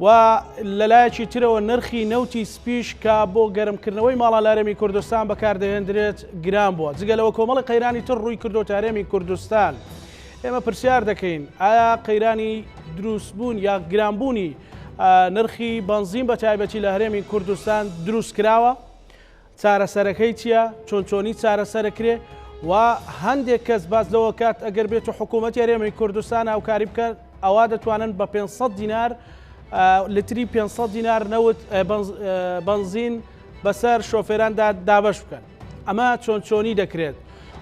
و لەلایەکی ترەوە نرخی نەوتی سپیش کە بۆ گەرمکردنەوەی ماڵە لارێمی کوردستان بەکاردەهێندرێت گران بووە جگەلەوە کۆمەڵی قەیرانی تر ڕووی کردو تارێمی کوردستان ئێمە پرسیار دەکەین ئایا قەیرانی دروستبوون یا گرانبوونی نرخی بنزین بە تایبەتی لە هەرێمی کوردستان دروست کراوە؟ چارەسەرەکەی چیە؟ چۆن چۆنی چارەسەرەکرێ؟ و هەندێک کەس باس لەوە کات ئەگەر بێت و حکوومەت یارێمەی کوردستان هاوکاری بکەن ئەوا دەتوانن بە 500 دینار لتری 500 دینار نەوت بنزین بەسەر شۆفێراندا دابش بکەن ئەمە چۆن چۆنی دەکرێت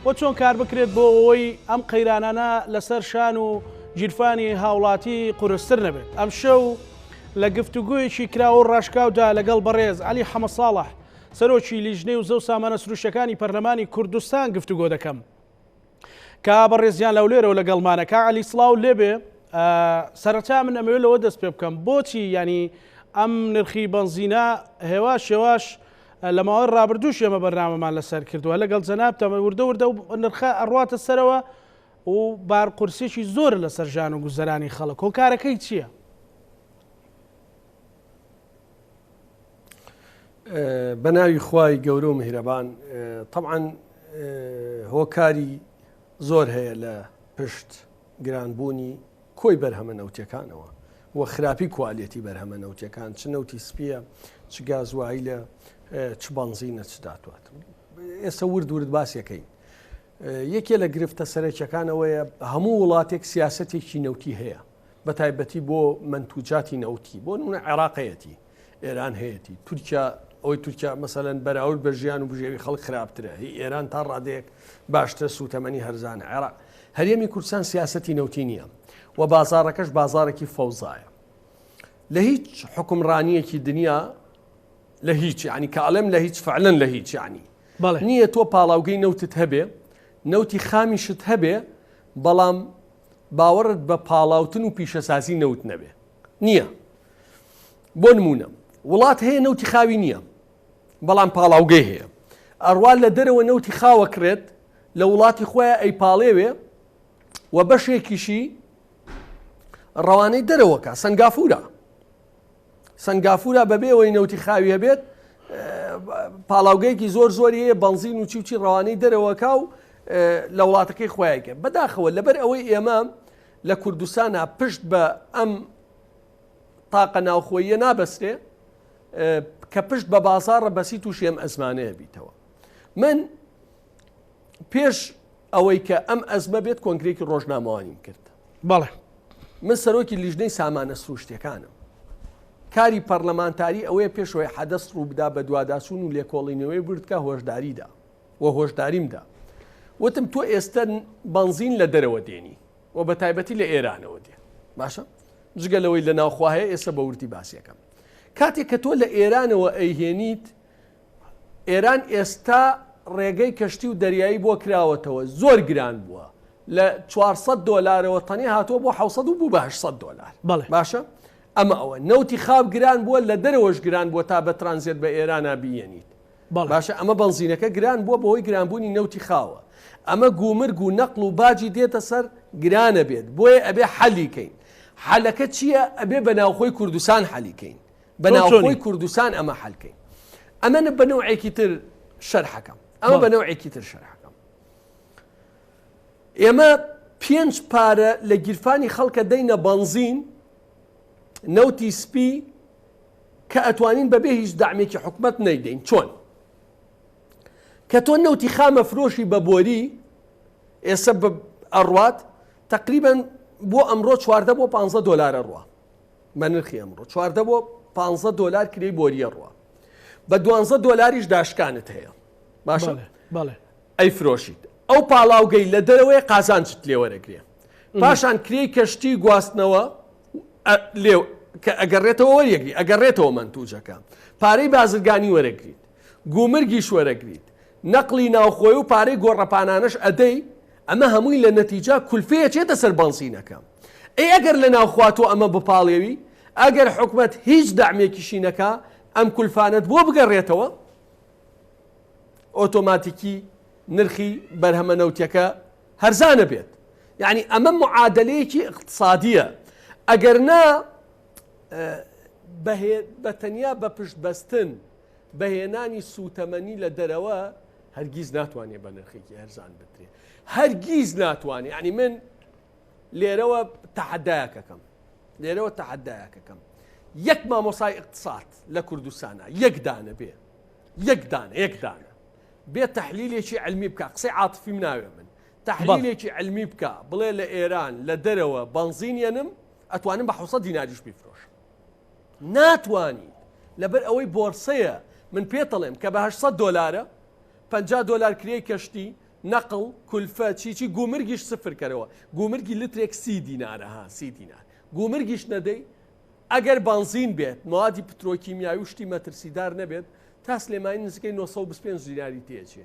و چۆن کار بکرێت بۆ ئەوەی ئەم قەیرانانە لەسەر شان و گیرفانی هاوڵاتی قورستر نەبێت ئەم شەو لە گفتوگۆیەکی کراوە و ڕاشکاودا لەگەڵ بەڕێز عەلی حەمەساڵح، سەرۆکی لیژنەی وزە و سامانە سروشتییەکانی پەرلەمانی کوردستان گفتوگۆ دەکەم. کا بەڕێزیان لەولێرەوە لەگەڵمانە. کا عەلی سڵاو لێبێ. سەرەتا من ئەمەوێت لەوە دەست پێ بکەم، بۆچی یانی ئەم نرخی بەنزینە هێواش هێواش لە ماوەی ڕابردووش ئێمە بەرنامەمان لەسەر کردووە، لەگەڵ جەنابتان وردە وردە ئەو نرخە ئەڕواتە سەرەوە، و بار قورسێکی زۆرە لەسەر ژان و گوزەرانی خەڵک هۆکارەکەی چیە؟ بەناوی خوای گەورە و میهرەبان طبعاً هۆکاری زۆر هەیە لە پشت گرانبوونی کۆی بەرهەمە نەوتەکانەوە و خراپی کوالێتی بەرهەمە نەوتەکان چ نەوتی سپیە چ گازوایی لە چ بەنزینە چ داتوات ئێستا ورد ورد باسیەکەی یەکێ لە گرفتە سەرەکیەکان ئەوەیە هەموو وڵاتێک سیاستێکی نەوتی هەیە بە تایبەتی بۆ منتوجاتی نەوتی بۆ نونە عێراقەتی ئێران هەیەی تورکیا ئەوەی تورکیا مەسەەن بەراورد بە ژیان و بژێوی خەڵک خراپترە هی ئێران تا ڕادێک باشترە سووتەمەنی هەرزان عێراق هەرێمی کوردستان سیاستی نەوتی نییە و بازارەکەش بازارێکی فەوزایە لە هیچ حکمڕانیەکی دنیا لە هیچ ینی کاڵم لە هیچ فعلن لە هیچ ینی نییە تۆ پاڵاوگەی نەوتت هەبێ، نەوتی خامیشت هەبێ، بەڵام باوەڕت بە پاڵاوتن و پیشەسازی نەوت نەبێ. نییە. بۆ نموونە، وڵات هەیە نەوتی خاوی نییە، بەڵام پاڵاوگەی هەیە. ئەڕوا لە دەرەوە نەوتی خاوە کڕێت، لە وڵاتی خۆیان ئەیپاڵێوێ و بەشێکیشی ڕەوانەی دەرەوە کا، سەنگافوورە. سەنگافورە بەبێ ئەوەی نەوتی خاوی هەبێت پاڵاوگەیەکی زۆر زۆری هەیە بەنزین و چیوچی ڕەوانەی دەرەوەکە و لە وڵاتەکەی خۆیانکە بەداخەوە لەبەر ئەوەی ئێمە لە کوردستانە پشت بە ئەم تاقە ناوخۆیە نابەسرێ کە پشت بە بازارڕە بەسی تووشێم ئەزمانەیە بیتەوە من پێش ئەوەی کە ئەم ئەزمە بێت کۆنگرێکی ڕۆژنامەوانیم کرد بەڵێ من سەرۆکی لیژنەی سامانە سروشتەکانم کاری پەرلەمانتاری ئەوەیە پێشەوەی حەدەست ڕووبدا بە دوواداسون و لێکۆڵینەوەی بردکە هۆشداریدا و هۆشداریمدا وتم تۆ ئێستا بنزین لە دەرەوە دێنی و بە تایبەتی لە ئێرانەوە دێ باشە جگە لەوەی لە ناوخواهەیە ئێستا بە وردی باسیەکەم کاتێک کە تۆ لە ئێرانەوە ئەیهێنیت ئێران ئێستا ڕێگەی کەشتی و دەریایی بۆ کراوەتەوە زۆر گران بووە لە چوار سەد دۆلارەوە تەنیا هاتووە بۆ حەوت سەد و بوو بە هەشت سەد دۆلار بەڵێ باشە ئەمە ئەوە نەوتی خاو گران بووە لە دەرەوەش گران بووە تا بە ترانزێت بە ئێرانا بیەنیت بەڵێ باشە ئەمە بەنزینەکە گران بووە بەوەی گرانبوونی نەوتی خاوە ئەمە گومرگ و نەقڵ و باجی دێتە سەر گرانە بێت بۆیە ئەبێ حەلیکەین حەلەکە چییە ئەبێ بە ناوخۆی کوردستان حەلیکەین بە ناوخۆی کوردستان ئەمە حەل کەین ئەمە بە نەوعێکی تر شەرحەکەم ئەمە بە نەوعێکی تر شەرحەکەم ئێمە پێنج پارە لە گیرفانی خەڵکە دەینە بەنزین نەوتی سپی کە ئەتوانین بەبێ هیچ دامێکی حکومت نەیدەین چۆن کە تۆ نەوتی خامە فرۆشی بە بۆری ئێستا ئەڕوات تقریبن بۆ ئەمڕۆ چواردە بۆ 15 دلارە ڕوە بە نرخی ئەمڕۆ چواردە بۆ پانزە دۆلار کرێی بۆریە ڕوە بە دوانزە دۆلاریش داشکانت هەیە باشە ئەی فرۆشیت ئەو پاڵاوگەی لە دەرەوەی قازانجت لێوەرەگرێ پاشان کرێی کەشتی گواستنەوە لێو کە ئەگەڕێتەوە وەریەگری ئەگەڕێتەوە منتوجەکە پارەی بازرگانی وەرەگریت گومرگیش وەرەگریت نەقڵی ناوخۆیە و پارەی گۆڕەپانانەش ئەدەی، ئەمە هەمووی لە نەتیجا کولفەیە چێتە سەر بەنزینەکە. ئەی ئەگەر لە ناوخۆا تۆ ئەمە بپاڵێوی، ئەگەر حکومەت هیچ دەعمێکیشی نەکا، ئەم کولفانەت بۆ بگەڕێتەوە، ئۆتۆماتیکی نرخی بەرهەمە نەوتیەکە هەرزان ئەبێت. یەعنی ئەمە معادەلەیەکی ئیقتسادیە. ئەگەر نا بە تەنیا بە پشت بەستن بە هێنانی سووتەمەنی لە دەرەوە هەرگیز ناتوانێت بە نرخێکی هەرزان بدرێت هەرگیز ناتوانێت ینی من لێرەوە تەحدایەکەکەم لێرەوە تەحدایەکەکەم یەک مامۆسای اقتصاد لە کوردستانە یەکدانە بێ یەکدانە یەکدانە بێ تحلیلێکی علمی بکە قسەی عاطفی مناوێ من تحلیلێکی علمی بکە بڵێ لە ئێران لە دەرەوە بنزینەنم ئەتوانم بە حوسە دیناریش بیفرۆش ناتوانین لەبەر ئەوەی بۆرسەیە من پێتەڵێم کە بە هەشت سەد دۆلارە پەنجا دۆلار کرێی کەشتی نەقڵ کولفە چی چی گومرگیش سفر کەرەوە گومرگی لترێک سی دینارە ها سی دینار گومرگیش نەدەی ئەگەر بەنزین بێت موادی پترۆکیمیاوی و شتی مەترسیدار نەبێت تا سلێمانی نزیکەی نۆ سەد و بیست و پێنج دیناری تێچێ.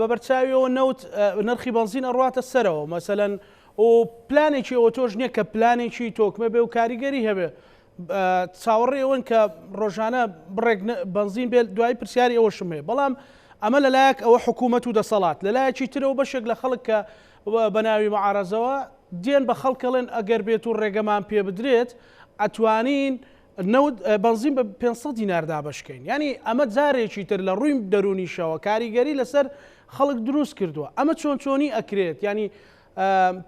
بە بەرچاویەوە نەوت نرخی بەنزین ئەڕواتە سەرەوە مەسەەن و پلانێکی ئەوە تۆش نییە کە پلانێکی تۆکمە بێ و کاریگەری هەبێ چاوەڕێ ئەوەن کە ڕۆژانە بڕێک بەنزین بێت دوای پرسیاری ئەوەشم هەیە بەڵام ئەمە لەلایەک ئەوە حکوومەت و دەسەڵات لەلایەکی ترەوە بەشێک لە خەڵک کە بە ناوی معارەزەوە دێن بە خەڵکەڵێن ئەگەر بێت و ڕێگەمان پێ بدرێت ئەتوانین نەوت بەنزین بە پێنج سەد دینار دابەش کەین یانی ئەمە جارێکی تر لە ڕووی دەرونیشەوە کاریگەری لەسەر خەڵک دروست کردووە ئەمە چۆن چۆنی ئەکرێت ینی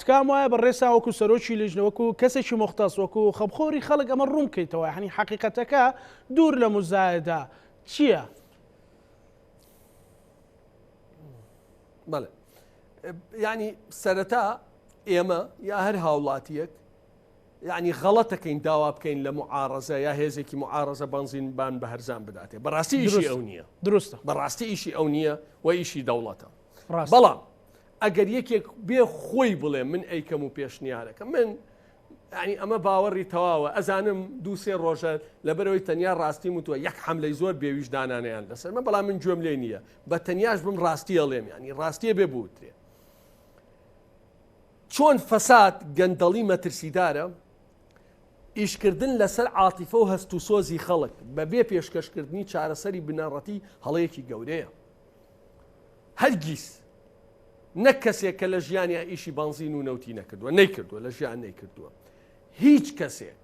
تکام وایە بە ڕێسا وەکو سەرۆکی لیژنە وەکو کەسێکی مختەس وەکو خەبخۆری خەڵک ئەمە ڕوون بکەیتەوە هەنی حقیقەتەکە دوور لە مزایدا چییە؟ بەڵێ ینی سەرەتا ئێمە یا هەر هاوڵاتیەک یەعنی غەڵەتەکەین داوا بکەین لە معارەزە یا هێزێکی معارەزە بەنزین بان بە هەرزان بداتێ بەڕاستی ئیشی ئەو نییە دروستە بەڕاستی ئیشی ئەو نییە و ئیشی دەوڵەتە بەڵام ئەگەر یەکێک بێ خۆی بڵێ من ئەیکەم و پێشنیارەکە من ینی ئەمە باوەڕی تەواوە ئەزانم دووسێ ڕۆژە لەبەرەوەی تەنیا ڕاستی وتووە یەک حملەی زۆر بێویژدانانیان لەسەر من بەڵام من گوێم لێ نییە بە تەنیاش بم ڕاستیە ڵێم ینی ڕاستیە بێ بوترێ چۆن فەساد گەندەڵی مەترسیدارە، ئیشکردن لەسەر عاتیفە و هەست و سۆزی خەڵک بەبێ پێشکەشکردنی چارەسەری بنەڕەتی هەڵەیەکی گەورەیە. هەرگیز نەک کەسێک کە لە ژیانیا ئیشی بەنزین و نەوتی نەکردووە نەیکردووە لە ژیان نەیکردووە هیچ کەسێک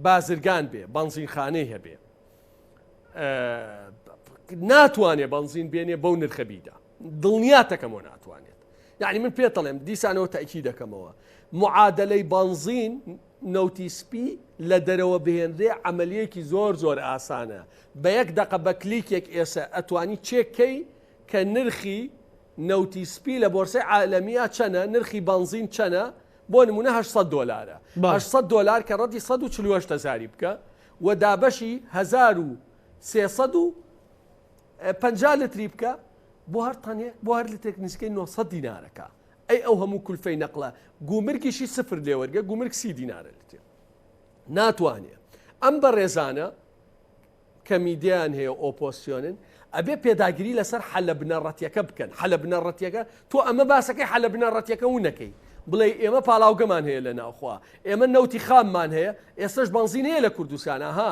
بازرگان بێ بەنزینخانەی هەبێ ناتوانێ بەنزین بێنێ بەو نرخە بیدا. دڵنیاتەکەمەوە ناتوانێت یعنی من پێتەڵێم دیسانەوە تاکی دەکەمەوە معادلەی بانزین نەوتی سپی لە دەرەوە بهێنرێ عملیەکی زۆر زۆر ئاسانە بە یەک دقە بە کلیکێک ئێسە ئەتوانی چێککەی کە نرخی نەوتی سپی لە بۆرسەی عالەمیە چەنە نرخی بانزین چەنە بۆ نمونە 800 دلارە 800 دلار کە ڕەتی 140 هزاری بکە و دابەشی 1000 و 300 پەنجا لتری بکە بۆ هەر تەنێک بۆ هەر لتێک نزیکەی 900 دینارەکە ئەی ئەو هەموو کولفەی نەقلە گومرگیشی سفر لێوەرگە گومرگ سی دینارە لتێ ناتوانێ ئەم بە ڕێزانە کە میدیان هەیە ئۆپۆسیۆنن ئەبێ پێداگیری لەسەر حەلە بنەڕەتیەکە بکەن حەلە بنەڕەتیەکە تۆ ئەمە باسەکەی حەلە بنەڕەتیەکە و نەکەی بڵێ ئێمە پاڵاوگەمان هەیە لە ناوخوا ئێمە نەوتی خاممان هەیە ئێستش بەنزین هەیە لە کوردستانە ها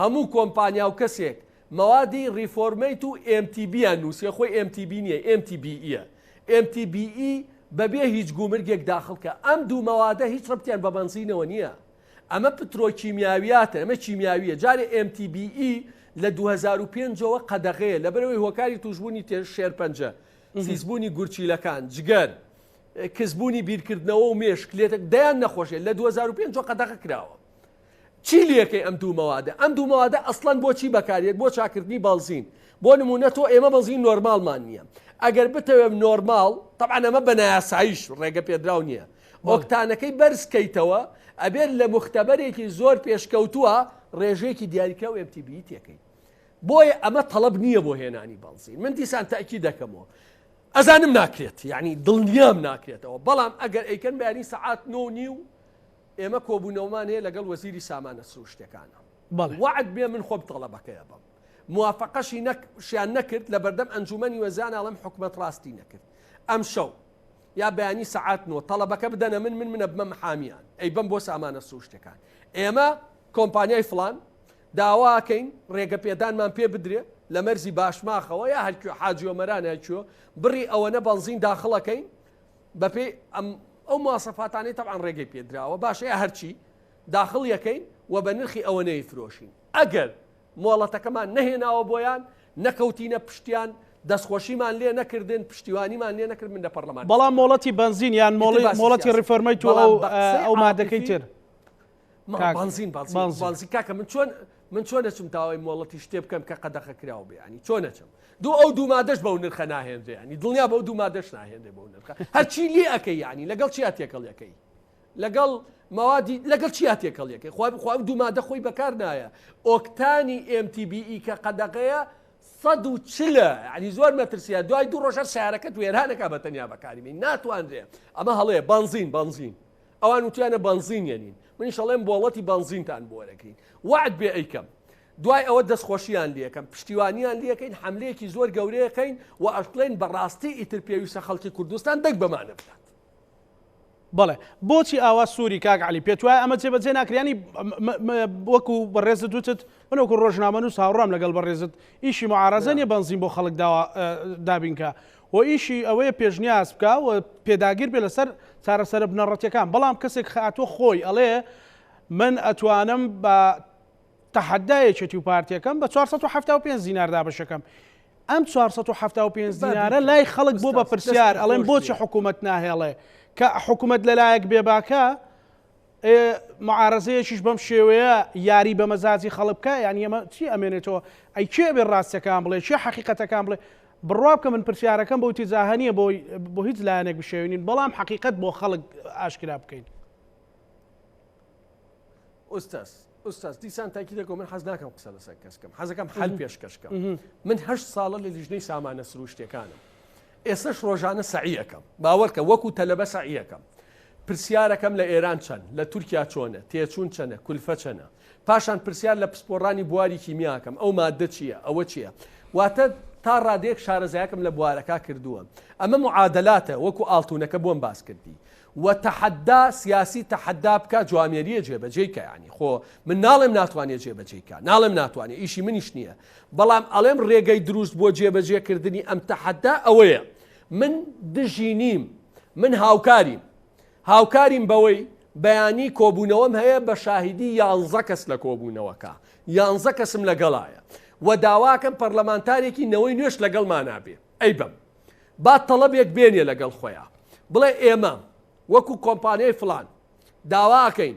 هەموو کۆمپانیا و کەسێک مەوادی ڕیفۆرمەیت و ئێم تی بییان نووسیە خۆی ئێم تی بی نییە ئێم تی بییە ئێم تی بیی بەبێ هیچ گومرگێک داخڵ کە ئەم دوو مەوادە هیچ ڕەبتیان بە بەنزینەوە نییە ئەمە پترۆکیمیاویاتە ئەمە کیمیاوییە جارێ ئێم تی بیی لە دوو هەزار و پێنج ەوە قەدەغەیە لەبەرئەوەی هۆکاری توشبوونی تێ شێرپەنجە سیسبوونی گورچیلەکان جگەر کزبوونی بیرکردنەوە و مێشک لێتەک دەیان نەخۆشێ لە دوو هەزار و پێنج ەوە قەدەغە کراوە. چی لەکەی ئەم دوو مەوادە؟ ئەم دوو مەوادە ئەسڵەن بۆ چی بەکاریەت بۆ چاکردنی بەنزین بۆ نمونە تۆ ئێمە بەنزین نۆرماڵمان نییە ئەگەر بتەوێم نۆرماڵ تەبعەن ئەمە بە نایاسایش ڕێگە پێدراو نییە ئۆکتانەکەی بەرز کەیتەوە ئەبێت لە مختبەرێکی زۆر پێشکەوتووە ڕێژەیەکی دیاریکراو ئەمتی بی تێکەی بۆیە ئەمە تەڵب نییە بۆ هێنانی بەنزین من دیسان تاکی دەکەمەوە ئەزانم ناکرێت یعنی دڵنیام ناکرێتەوە بەڵام ئەگەر ئەیکەن بەیانی سەعات نۆ نی و ئێمە کۆبوونەوەمان هەیە لەگەڵ وەزیری سامانە سروشتیەکانا وەعد بێ من خۆم تەڵەبەکەی ئەبەم موافەقەشی نەک شیان نەکرد لە بەردەم ئەنجومەنی وەزان ئەڵێم حکومەت ڕاستی نەکرد ئەم شەو یا بەیانی سەعات نۆ تەڵەبەکە بدەنە من من منە بمە محامیان ئەی بم بۆ سامانە سروشتەکان ئێمە کۆمپانیای فلان داواکەین ڕێگە پێدانمان پێ بدرێ لە مەرزی باشماخەوە یا هەرکوێ حاجیۆمەران هەرکوێ بڕی ئەوەنە بەنزین داخڵەکەین بەپێی ئەم ئەو ماسەفاتانی تەعاان ڕێگەی پێدراوە باشە هەرچی داخڵ یەکەین و بە نرخی ئەوە نەی فرۆشین ئەگەر مۆڵەتەکەمان نەهێناوە بۆیان نەکەوتینە پشتیان دەستخۆشیمان لێ نەکردن پشتیوانیمان لێ نەکرد من لە پەرلەمان بەڵام مۆڵەتی بنزین یان مۆڵی مۆڵەتی ڕفۆرمەی تو ئەو مادەکەی تر بانزین بازی کاکە من چۆن من چۆن دەچم تاوای مۆڵەتی شتێ بکەم کە قەدەخە کراوە بیانی چۆن نەچم دوو ئەو دوو مادەش بەو نرخە ناهێنرێ ینی دڵنیا بەو دوو مادەش ناهێنێ بەو نرخە هەرچی لێ ئەەکەی ینی لەگەڵ چی هاتێکەڵەکەی لەگەڵ موادی لەگەڵ چی هاتێکەڵەکەی خوا بخوا دوو مادە خۆی بەکار نایە ئۆکتانی MTBE کە قەدەغەیە سەد و چلە ینی زۆر مەترسیە دوای دوو ڕۆژە سارەکەت وێرانەکە بە تەنیا بەکاریمی ناتواندرێ ئەمە هەڵەیە بانزین بانزین ئەوان وتویانە بەنزین یەنین منیش ئەڵێم بۆڵەتی بەنزینتان بۆ وەرەگرین وەعد بێ ئەیکەم دوای ئەوە دەستخۆشیان لەکەم پشتیوانیان لەکەین حملەیەکی زۆر گەورەیەکەین و ئەشڵێن بەڕاستی ئیتر پێویستە خەڵکی کوردستان دەنگ بەمانە بدات بەڵێ بۆچی ئاوا سووری کاک علی پێت وایە ئەمە جێبەجێ ناکرانی وەکو بەڕێزت دوتت من وەکو ڕۆژنامە و ساوڕام لەگەڵ بەڕێزت ئیشی معارەزەنیە بەنزین بۆ خەڵک داوا دابینکە و ئیشی ئەوەیە پێشنیاز بکا و پێداگیر بێ لەسەر چارەسەرە بنەڕەتیەکان بەڵام کەسێک خاتوە خۆی ئەڵێ من ئەتوانم بە تەحەدا یەکێتی و پارتیەکەم بە 475 دینار دابەشەکەم ئەم 475 دینارە لای خەڵک بۆ بە پرسیار ئەڵێن بۆچی حکوومەت ناهێڵێ کە حکوومەت لەلایەک بێباکە ئێ معارەزەیەکیش بەم شێوەیە یاری بە مەزاجی خەڵک بکا یانی ئەمە چی ئەمێنێتەوە ئەی کێ ئەبێ ڕاستەکان بڵێ کێ حەقیقەتەکان بڵێ بڕوا بکە من پرسیارەکەم بۆ تیزاهە نیە بۆ بۆ هیچ لایەنێک بشێوینین بەڵام حەقیقەت بۆ خەڵک ئاشکرا بکەین ئوستاس ئوستاس دیسان تاکی دەکەم من حەز ناکەم قسە لەسەر کەسکەم حەزەکەم حل پێشکەشکەم من هەشت ساڵە لە لیژنەی سامانە سروشتەکانم ئێستەش ڕۆژانە سەعی ئەکەم. باوەڕکە وەکو تەلەبە سەعی ئەکەم. پرسیارەکەم لە ئێران چەند؟ لە تورکیا چۆنە؟ تێچوون چەنە؟ کولفە چەنە؟ پاشان پرسیار لە پسپۆڕانی بواری کیمیا ئەکەم، ئەو ماددە چییە؟ ئەوە چییە؟ واتە تا ڕادەیەک شارەزایەکم لە بوارەکە کردووە. ئەمە معادلاتە وەکو ئاڵتوونەکە بۆم باس کردی. وە تەحەدا سیاسی تەحەدا بکا جوامێرییە جێبەجێی کە یانی خۆ من ناڵێم ناتوانێ جێبەجێی کا. ناڵێم ناتوانێ ئیشی منیش نییە. بەڵام ئەڵێم رێگەی دروست بۆ جێبەجێ کردنی ئەم تەحەدا ئەوەیە من دژی نیم من هاوکاریم هاوکاریم بەوەی بەیانی کۆبوونەوەم هەیە بە شاهیدی یانزە کەس لە کۆبوونەوەکە یانزە کەسم لەگەڵایە و داواکەم پەرلەمانتارێکی نەوەی نوێش لەگەڵمانابێ ئەی بەم با تەڵەبێک بێنێ لەگەڵ خۆیان بڵێ ئێمە وەکو کۆمپانیای فلان داواکەین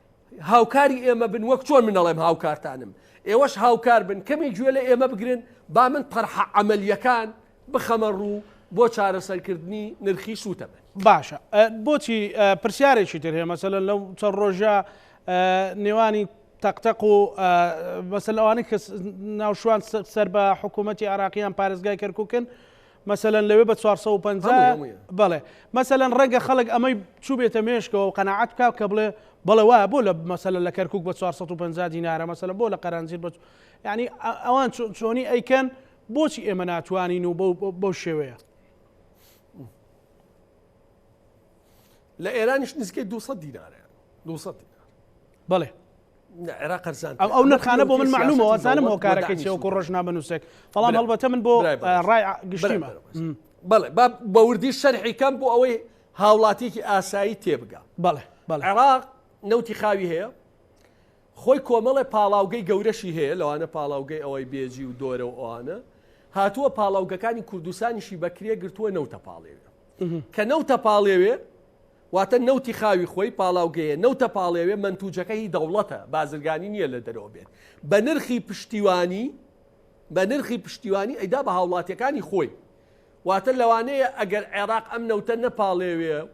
هاوکاری ئێمە بن وەک چۆن من ئەڵێم هاوکارتانم ئێوەش هاوکار بن کەمی گوێ لە ئێمە بگرن با من تەرحە عملیەکان بخەمە ڕوو بۆ چارەسەرکردنی نرخی سووتە بن باشە بۆچی پرسیارێکی تر هەیە مەسەل لەو چەند ڕۆژە نێوانی تەقتەق و بەسەر ئەوانەی کە ناوشوان سەر بە حکوومەتتی عراقییان پارێزگای کەرککن مەسەلەن لەوێ بە چوار سەد و پەنجا هەمووی هەموویە. بەڵێ مەسەلەن ڕەنگە خەڵک ئەمەی چووبێتە مێشکەوە و قەناعەت بکا کە بڵێ بەڵێ وایە بۆ لە مەسەلەن لە کەرکووک بە چوار سەد و پەنجا دینارە مەسەلەن بۆ لە قەرەنجیر بە یەعنی ئە ئەوان چۆ چۆنی ئەیکەن بۆچی ئێمە ناتوانین و بەو بەو بەو شێوەیە لە ئێرانیش نزیکەی دوو سەد دینارە دوو سەد دینار بەڵێ ئەو نرخانە بۆ من معلومە وازانم هۆکارەکە چێوەکو ڕۆژنا بنووسێک بەڵام هەڵبەتە من بۆ ڕای گشتیمە بەڵێ بە وردی شەرحی کەم بۆ ئەوەی هاوڵاتیکی ئاسایی تێبگا بەڵێ عێراق نەوتی خاوی هەیە خۆی کۆمەڵێ پاڵاوگەی گەورەشی هەیە لەوانە پاڵاوگەی ئەوەی بێجی و دۆرە و ئەوانە هاتووە پاڵاوگەکانی کوردستانیشی بەکرێ گرتووە نەوتە پاڵێوێ کە نەوتە پاڵێوێ واتە نەوتی خاوی خۆی پاڵاوگەیە نەوتە پاڵێوێ مەنتوجەکە هی دەوڵەتە بازرگانی نیە لە دەرەوە بێت بە نرخی پشتیوانی بە نرخی پشتیوانی ئەیدا بە هاوڵاتیەکانی خۆی واتە لەوانەیە ئەگەر عێراق ئەم نەوتە نەپاڵێوێ و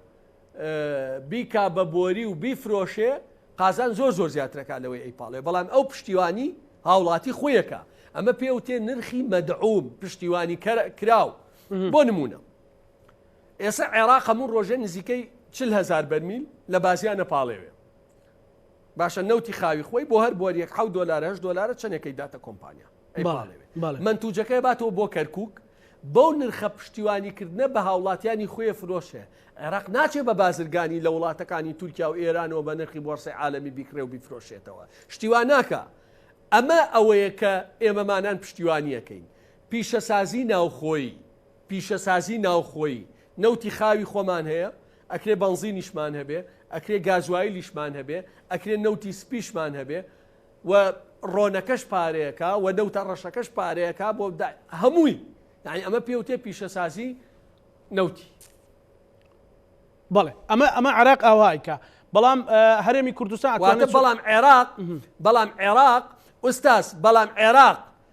بیکا بە بۆری و بیفرۆشێ قازان زۆر زۆر زیاترەکە لەوەی ئەی پاڵێ بەڵام ئەو پشتیوانی هاوڵاتی خۆیەکە ئەمە پێوتێ نرخی مەدعوم پشتیوانی کراو بۆ نمونە ئێسە عێراق هەموو ڕۆژێ نزیکەی چل هەزار بەرمیل لە بازیان ئەپاڵێوێ. باشە نەوتی خاوی خۆی بۆ هەر بۆریەک حەوت دۆلار هەشت دۆلارە چەندێکەی داتە کۆمپانیا ئەیپاڵێوێ. بەڵێ. مەنتوجەکە ئەباتەوە بۆ کەرکووک، بەو نرخە پشتیوانیکردنە بە هاوڵاتیانی خوێ فرۆشێ. عێراق ناچێ بە بازرگانی لە وڵاتەکانی تورکیا و ئێرانەوە بە نرخی بۆڕسەی عالەمی بیکڕێ و بیفرۆشێتەوە. شتی وا ناکا. ئەمە ئەوەیە کە ئێمەمانان پشتیوانییەکەین. پیشەسازیی ناوخۆیی. پیشەسازی ناوخۆیی نەوتی خاوی خۆمان هەیە، ئەکرێ بەنزینیشمان هەبێ، ئەکرێ گازوایلیشمان هەبێ، ئەکرێ نەوتی سپیشمان هەبێ و ڕۆنەکەش پارەیەکە و نەوتە ڕەشەکەش پارەیەکە بۆ هەمووی یانی ئەمە پێ وتێ پیشەسازی نەوتی. بەڵێ ئەمە ئەمە عراق ئاوایکە بەڵام هەرێمی کوردستان بەڵام عێراق بەڵام عێراق ئوستاس بەڵام عێراق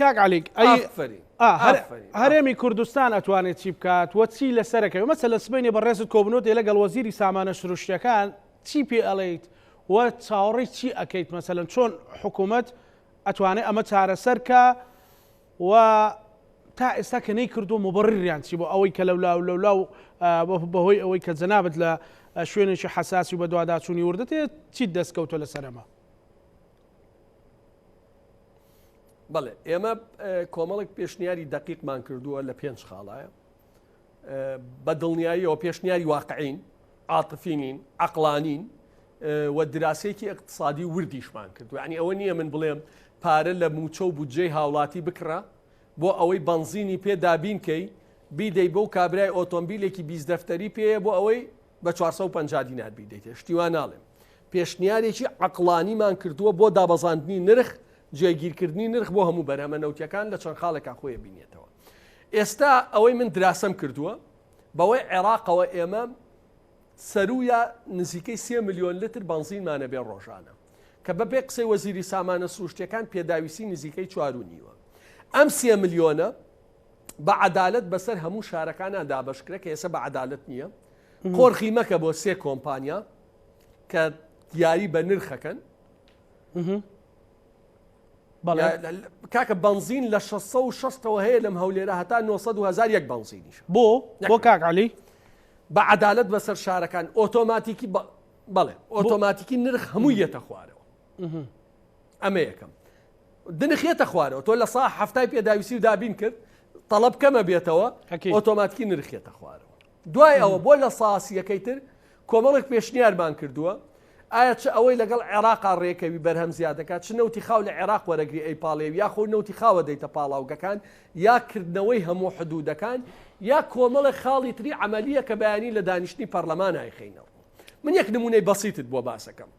کاک علیک هەرێمی کوردستان ئەتوانێت چی بکات وە چی لەسەرەکەی مەسە لە سبینێ بە ڕێزت کۆبنەوە دێ لەگەڵ وەزیری سامانە سروشتەکان چی پێ ئەڵیت و چاوەڕی چی ئەەکەیت مەسەن چۆن حکوومەت ئەتوانێت ئەمە چارەسەرکە و تا ئێستا کە نەی کردو مبڕیان چی بۆ ئەوەی کە لەولا و لەولا و بەهۆی ئەوەی کە جەنابەت لە شوێنێکی حساسی و بەدواداچوونی وردەتێ چیت دەستکەوتە لەسەرەمە بەڵێ ئێمە کۆمەڵک پێشنیاری دقیقمان کردووە لە پێنج خاڵایە بە دڵنیاییەوە پێشنیاری واقعین عاتفینین عقلانین و دراسێکی اقتصادی وردیشمان کردو ینی ئەوە نییە من بڵێم پارە لە موچە و بودجەی هاوڵاتی بکڕە بۆ ئەوەی بنزینی پێ دابینکەی بیدەی بۆ کابرای ئۆتۆمبیلێکی بیست دەفتەری پێەیە بۆ ئەوەی بە چوار سەد و پەنجا دینار بیدەیتێ شتی وا ناڵێم پێشنیارێکی عەقڵانیمان کردووە بۆ دابەزاندنی نرخ جێگیرکردنی نرخ بۆ هەموو بەرهەمە نەوتیەکان لە چەند خاڵێکا خۆی بینێتەوە ئێستا ئەوەی من دراسەم کردووە بەوەی عێراقەوە ئێمە سەرویە نزیکەی سێ میلیۆن لتر بەنزینمانە بێ ڕۆژانە کە بەبێ قسەی وەزیری سامانە سروشتەکان پێداویستی نزیکەی چوار و نیوە ئەم سێ میلیۆنە بە عەدالەت بەسەر هەموو شارەکانا دابەشکرە کە ئێسە بە عەدالەت نییە قۆرخی مەکە بۆ سێ کۆمپانیا کە یاری بە نرخەکەن کاکە بنزین لە 1600ەوە هەیە لەم هەولێرە هەتا 900هزار یەک بنزینیش بۆ بۆ کاکعلی بە عدالت بەسەر شارەکان ئۆتۆماتیکی بەڵێ ئۆتۆماتیکی نرخ هەموو یەتە خوارەوە ئەمە یەکەم دنخێتە خوارەوە تۆ لە سا هەفتای پێداویستی و دابین کرد تەڵب کەمە بێتەوە ئۆتۆماتکی نرخێتە خوارەوە دوای ئەوە بۆ لە ساسیەکەی تر کۆمەڵێک پێشنیارمان کردووە ئایا چ ئەوەی لەگەڵ عێراقا ڕێکەوی بەرهەم زیادەکە چ نەوتی خاو لە عێراق وەرەگری ئەی پاڵێ یا خۆ نەوتی خاوە دەیتە پاڵاوگەکان یا کردنەوەی هەموو حدودەکان یا کۆمەڵە خاڵی تری عملیە کە بەیانی لە دانیشتنی پەرلەمانای خینەوە من یەک نمونەی بەسیتت بۆ باسەکەم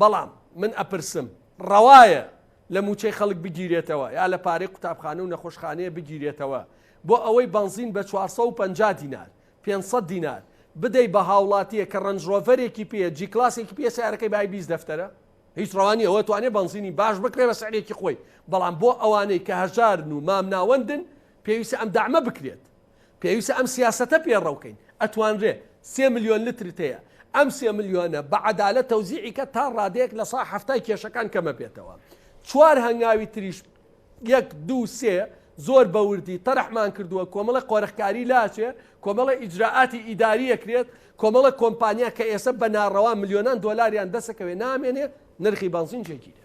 بەڵام من ئەپرسم ڕەوایە لە مووچەی خەڵک بگیرێتەوە یا لە پارەی قوتابخانە و نەخۆشخانەیە بگیرێتەوە بۆ ئەوەی بەنزین بە چوار سەد و پەنجا دینار، پێنج سەد دینار، بدەی بە هاوڵاتییەک کە ڕەنج ڕۆڤەرێکی پێیە، جی کلاسێکی پێیە سەیارەکەی بای بیست دەفتەرە؟ هیچ ڕەوا نییە ئەوە توانێ بەنزینی باش بکرێ بە سعرێکی خۆی، بەڵام بۆ ئەوانەی کە هەژارن و مامناوەندن پێویستە ئەم دەعمە بکرێت. پێویستە ئەم سیاسەتە پێڕەو کەین، ئەتوانرێ سێ ملیۆن لترت هەیە، ئەم سێ ملیۆنە بە عەدالەت تەوزیعی کە تا ڕادەیەک لە سەها حەفتای کێشەکان کەم ئەبێتەوە. چوار هەنگاوی تریش یەک، دوو، سێ زۆر بە وردی تەرحمان کردووە، کۆمەڵە قۆرخکاری لاچێ، کۆمەڵە ئیجرائاتی ئیداری ئەکرێت، کۆمەڵە کۆمپانیا کە ئێسە بە ناڕەوا ملیۆنان دۆلاریان دەسەکەوێ نامێنێ، نرخی بەنزین جێگیرێ.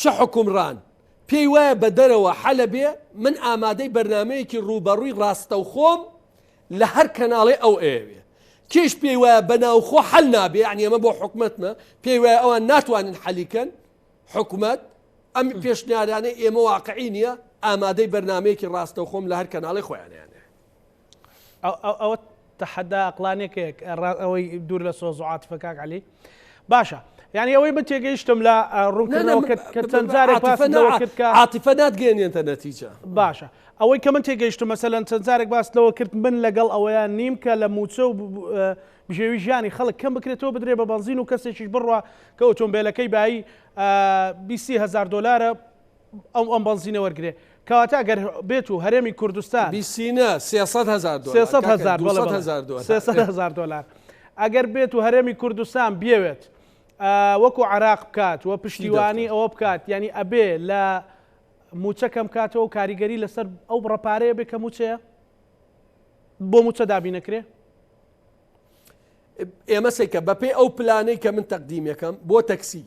چ حوکمڕان پێی وایە بە دەرەوە حەلە بێ من ئامادەی بەرنامەیەکی ڕووبەڕووی ڕاستەوخۆم لە هەر کەناڵێ ئەو ئەیەوێ کێش پێی وایە بە ناوخۆ حەل نابێ یعنی ئەمە بۆ حکومەتمە پێی وایە ئەوان ناتوانن حەلیکەن حکومەت ئەم پێشنیارانەی ئێمە واقعی نییە ئامادەی بەرنمەیەکی ڕاستەوخۆم لە هەر کەناڵی خۆیانیانێ ئەوە تەحەدا ئەقلانێکێک ئەوەی دوور لە سۆز و عاتفە کاک علی باشە یعنی ئەوەی من تێگەیشتم لە ڕوونکردنەوەکردعاتفە ناتگەێنێتە نەتیجە باشە ئەوەی کە من تێگەیشتم مەسەەن چەند جارێک باس لەوە کرد من لەگەڵ ئەوەیان نیم کە لە موچە و بژێوی ژیانی خەڵک کەم بکرێتەوە بدرێ بە بەنزین و کەسێکیش بڕە کە ئۆتۆمبیلەکەی بایی 20هزار دلارە ئەو ئەم بەنزینە وەرگرێ کەواتە گەر بێت و هەرێمی کوردستان بیسینە هزار دلار ئەگەر بێت و هەرێمی کوردستان بێوێت وەکو عراق بکات و پشتیوانی ئەوە بکات ینی ئەبێ لە موچە کەم کاتەوە و کاریگەری لەسەر ئەو بڕەپارەیە بێ کە موچەیە بۆ موچە دابینەکرێ ئێمە سێکە بەپێ ئەو پلانەی کە من تەقدیمەکەم بۆ تەکسی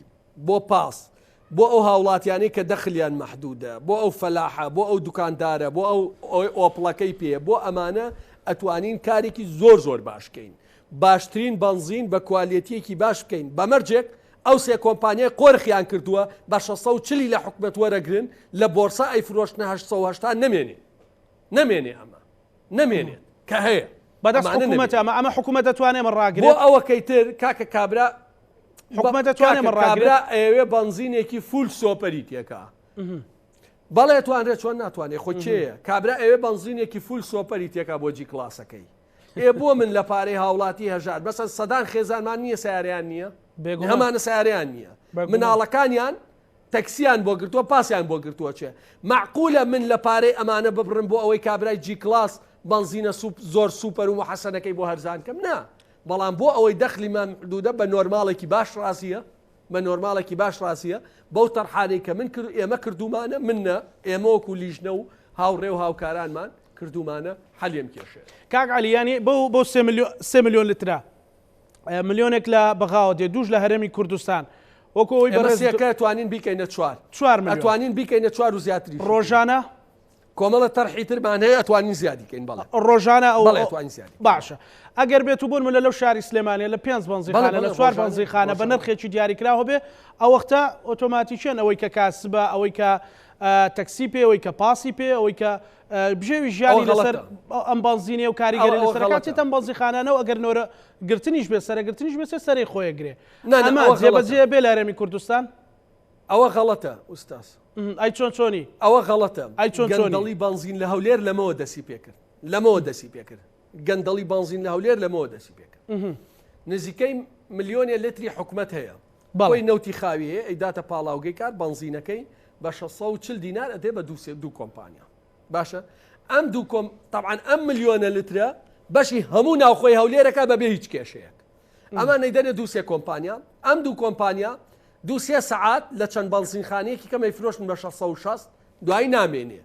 بۆ پاس بۆ ئەو هاوڵاتیانی کە دەخلیان محدودە بۆ ئەو فەلاحە بۆ ئەو دوکاندارە بۆ ئەو ئەوی ئۆپڵەکەی پێ بۆ ئەمانە ئەتوانین کارێکی زۆر زۆر باشکەین باشترین بنزین بە کوالەتیەکی باش بکەین بەمەرجێک ئەو سێ کۆمپانیای قۆرخیان کردووە بە 1640 لە حکومت وەرەگرن لە بۆرسە ئەی فرۆشتنە 1970 نمێنێ نمێنێ ئەمە نەمێنێت کە هەیە بەدەست حکوومەت ئەمە ئەمە حکوومەت دەتوانێت من ڕاگرێت ئەوە کەیتر کاکە کابرا حکومە دەتوانێت من ڕاگرا ئەوێ بنزینێکی فول سۆپەری تێکە بەڵێ توانرێت چۆن ناتوانێت خۆ چێە کابرا ئەوێ بنزینێکی فول سۆپەری تێکا بۆ جی کلاسەکەی ئێ بۆ من لە پارەی هاوڵاتی هەژار بەسە سەدان خێزانمان نییە ساریان نییە هەمانە ساریان نییە مناڵەکانیان تەکسیان بۆ گرتوە پاسیان بۆ گرتوە چێ مەعقولە من لە پارەی ئەمانە ببڕم بۆ ئەوەی کابرای جی کڵاس بەنزینە سوپ زۆر سوپەر و محەسەنەکەی بۆ هەرزان کەم نا بەڵام بۆ ئەوەی دەخلی مام حدودە بە نۆرماڵێکی باش ڕازیە بە نۆرماڵێکی باش ڕازیە بەو تەرحانەی کە من کرد ئێمە کردومانە من نە ئێمەوەک و لیژنە و هاوڕێ و هاوکارانمان کردومانە حەلیم کێشێ کاک علی یانی بۆ بۆ سێ ملیۆن لترە ملیۆنێک لە بەغاوە دێ دووش لە هەرێمی کوردستان وەکو ئەوی بەڕێزەکە توانین بیکەینە چوار چوار متوانین بیکەینە چوار و زیاتری ڕۆژانە کۆمەڵە تەرحی ترمان هەیە ئەتوانین زیادیکەین بەڵ ڕۆژانە ئەوڵێتوانین زیاد باشە ئەگەر بێت و بوون ملە لەو شاری سلێمانە لە پێنج بنزیخانە لە چوار بنزیخانە بە نرخێکی دیاریکراوە بێ ئەوەختە ئۆتۆماتیکیان ئەوەی کە کاسبە ئەوەی کە تەکسی پێ ئەوەی کە پاسی پێ ئەوەی کە بژێوی ژیانی لەسەر ئەم بەنزینێ و کاریگەری لەسەر کاتێت ئەم بەنزیخانانە و ئەگەر نۆرە گرتنیش بێ سەرەگرتنیش بێ سەری خۆیە گرێ نانەما جێبەجێ بێ لارەمی کوردستان ئەوە غەڵەتە ئوستاس ئەی چۆن چۆنی ئەوە غەڵەتە ئەی چۆن چۆنڵی بەنزین لە هەولێر لەمەوە دەسی پێکرد لەمەوە دەسی پێکرد گەندەڵی بەنزین لە هەولێر لەمەوە دەسی پێکرد نزیکەی ملیۆنێ لتری حکومت هەیە کۆی نەوتی خاوی هەیە ئەیداتە پاڵاوگەی کار بەنزینەکەی بە شەش سەد و چل دینار ئەدەی بە دوو سێ دوو کۆمپانیا باشە ئەم دوو کۆم طبعاان ئەم ملیۆنە لترە بەشی هەموو ناوخۆی هەولێرەکە بەبێ هیچ کێشەیەک ئەمە نەیدەنێ دوو سێ کۆمپانیا ئەم دوو کۆمپانیا دو سێ سعات لە چەند بەنزینخانەیەکی کەمەی فرۆشتن بە 1660 دوایی نامێنێ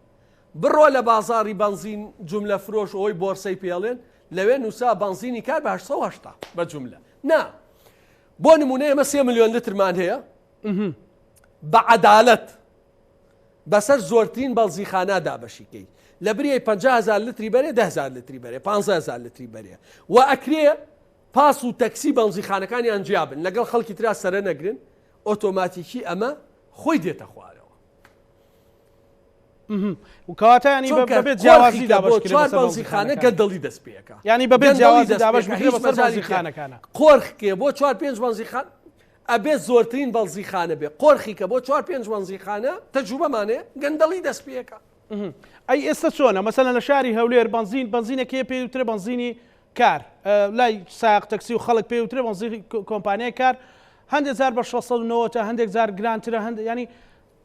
بڕۆ لە بازاری بەنزین جملە فرۆش ئەوی بۆرسەی پێڵێن لەوێ نووسا بەنزینی کار بە 1970 بە جملە نا بۆ نمونە ئێمە سێ ملیۆن لترمان هەیە بە عەدالەت بەسەر زۆرترین بەڵزیخانە دابەشیکەی لە بریەی 500هزار لتری بەرێ دهزار لتری بەرێ 15هزار لتری بەرێ و ئەکرێ پاس و تەکسی بەڵزیخانەکانیان جیابن لەگەڵ خەڵکی تررا سەرە نەگرن ئۆتۆماتیکی ئەمە خۆی دێتە خوارەوە کەواتە ینی بەبێت جیاوازی دابەش چوار بەوزیخانە گەندەڵی دەست پێەکە ینی بەبێت جیاوازی دابەش مەزاری خانەکانە قۆرخکێ بۆ چوار پێنج بەنزیخان ئەبێ زۆرترین بەڵزیخانە بێ قۆرخی کە بۆ چوار پێنج بەنزیخانە تەجوبەمانێ گەندەڵی دەست پێەکە ئەی ئێستا چۆنە مەسەلە لە شاری هەولێر بنزین بنزینەکەی پێ وترە بنزینی کار لای ساق تەکسی و خەڵک پێ وترە بنزین کۆمپانیای کار هەندێک زار بە 1690 تا هەندێک زار گرانترە هەند ینی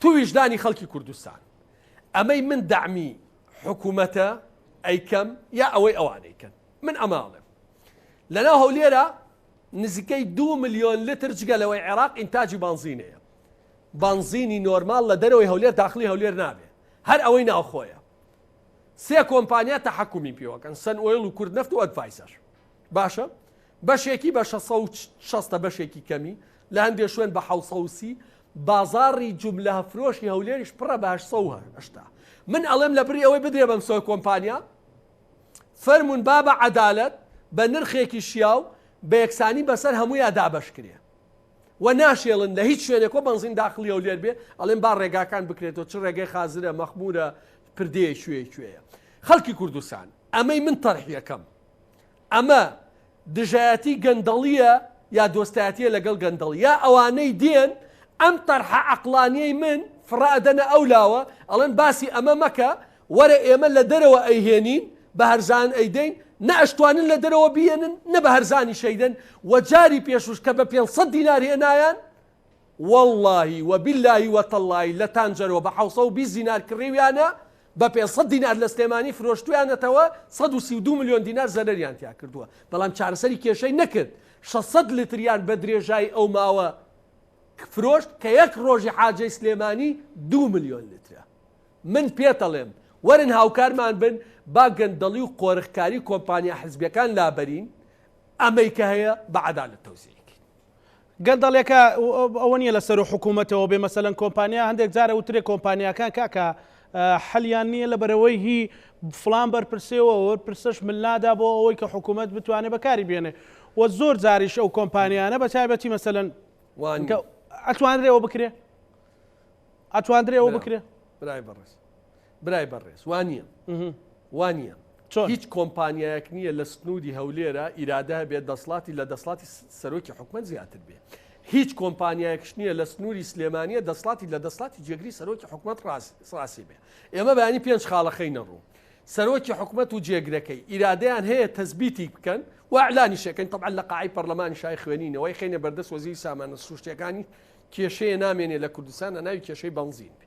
تو ویژدانی خەڵکی کوردستان ئەمەی من دەعمی حکومەتە ئەیکەم یا ئەوەی ئەوانەیکەن من ئەمە ئەڵێم لەناو هەولێرە نزیکەی دو ملیۆن لتر جگە لەوەی عێراق ئینتاجی بانزینەیە بانزینی نۆرمال لە دەرەوەی هەولێر داخلی هەولێر نابێ هەر ئەوەی ناوخۆیە سێ کۆمپانیا تەحکمی پێوەکەن سن ئۆیل و کورد نفت و ئەدڤایسەر باشە بەشێکی بە شەش سەد و شەست ە بەشێکی کەمی، لە هەندێ شوێن بە حەوت سەد و سی، بازاڕی جوملە فرۆشی هەولێریش پڕە بە هەشت سەد و هەشتا. من ئەڵێم لە بری ئەوەی بدرێ بەم سۆ کۆمپانیا، فەرموون با بە عەدالەت بە نرخێکی شیاو بە یەکسانی بەسەر هەموویا دابەش کرێ و ناشێلن لە هیچ شوێنێک و بەنزین داخڵی هەولێر بێ، ئەڵێم با ڕێگاکان بکرێتەوە چ ڕێگەی خازرە، مەخموورە، پردێیە کوێی کوێیە. خەڵکی کوردستان ئەمەی من تەرحیەکەم ئەمە دژایەتی گەندەڵیە یا دۆستایەتیە لەگەڵ گەندەڵ یا ئەوانەی دێن ئەم تەرحە عەقڵانیەی من فڕە ئەدەنە ئەو لاوە ئەڵێن باسی ئەمە مەکە وەرە ئێمە لە دەرەوە ئەیهێنین بە هەرزان ئەیدەین نە ئەشتوانن لە دەرەوە بیێنن نە بە هەرزانیش ئەیدەن وە جاری پێشوش کە بە پێنج سەد دینار هێنایان وەڵڵاهی و بیللاهی و تەڵڵاهی لە تانجەرۆ بە حەوسەو بیست دینار کڕیویانە بە پێنج سەد دینار لە سلێمانی فرۆشتویانەتەوە سەد و سی و دوو ملیۆن دینار زەرەریان تیا کردووە بەڵام چارەسەری کێشەی نەکرد شەش سەد لتریان بە درێژایی ئەو ماوە فرۆشت کە یەک ڕۆژی حاجەی سلێمانی دوو ملیۆن لترە من پێتەڵێم وەرن هاوکارمان بن با گەندەڵی و قۆرخکاری کۆمپانیا حزبیەکان لابەرین ئەمەی کە هەیە بە عەدالەت تەوزیع گەندەڵێکە ئەوە نیە لەسەر و حکوومەتەوە بێ مەسەلەن کۆمپانیا هەندێک جارە وترێ کۆمپانیاکان کاکە حەلیان نییە لە بەرەوەی هی فلان بەرپرسێەوە پرسش ملنادا بۆ ئەوەی کە حکوومەت بتوانێت بەکاری بێنێ و زۆر جاریش ئەو کۆمپانیانە بە تایبەتی مەسەن ئەتوانرێەوە بکرێ ئەتوانرێەوە بکرێ برای بەڕێز برای بەڕێز وانیە وانە چۆن هیچ کۆمپانیایەک نییە لە سنوودی هەولێرە ئیرادە هەبێت دەسڵاتی لە دەسڵاتی سەرۆکی حکومت زیاتر بێ هیچ کۆمپانیایەکش نییە لە سنووری سلێمانە دەسڵاتی لە دەسڵاتی جێگری سەرۆکی حکومت ڕاستی بێ ئێمە بەانی پێنج خاڵەخەی نەڕوو سەرۆکی حکومت و جێگرەکەی ئیرادیان هەیە تەزبیتی بکەن وعلانی شەکەن طبعا لە قاعی پەرلەمانی شای خوێنینەوەی خینە بەردەست وەزیری سامانە سروشتەکانی کێشەیە نامێنێ لە کوردستانە ناوی کێشەی بنزین بێ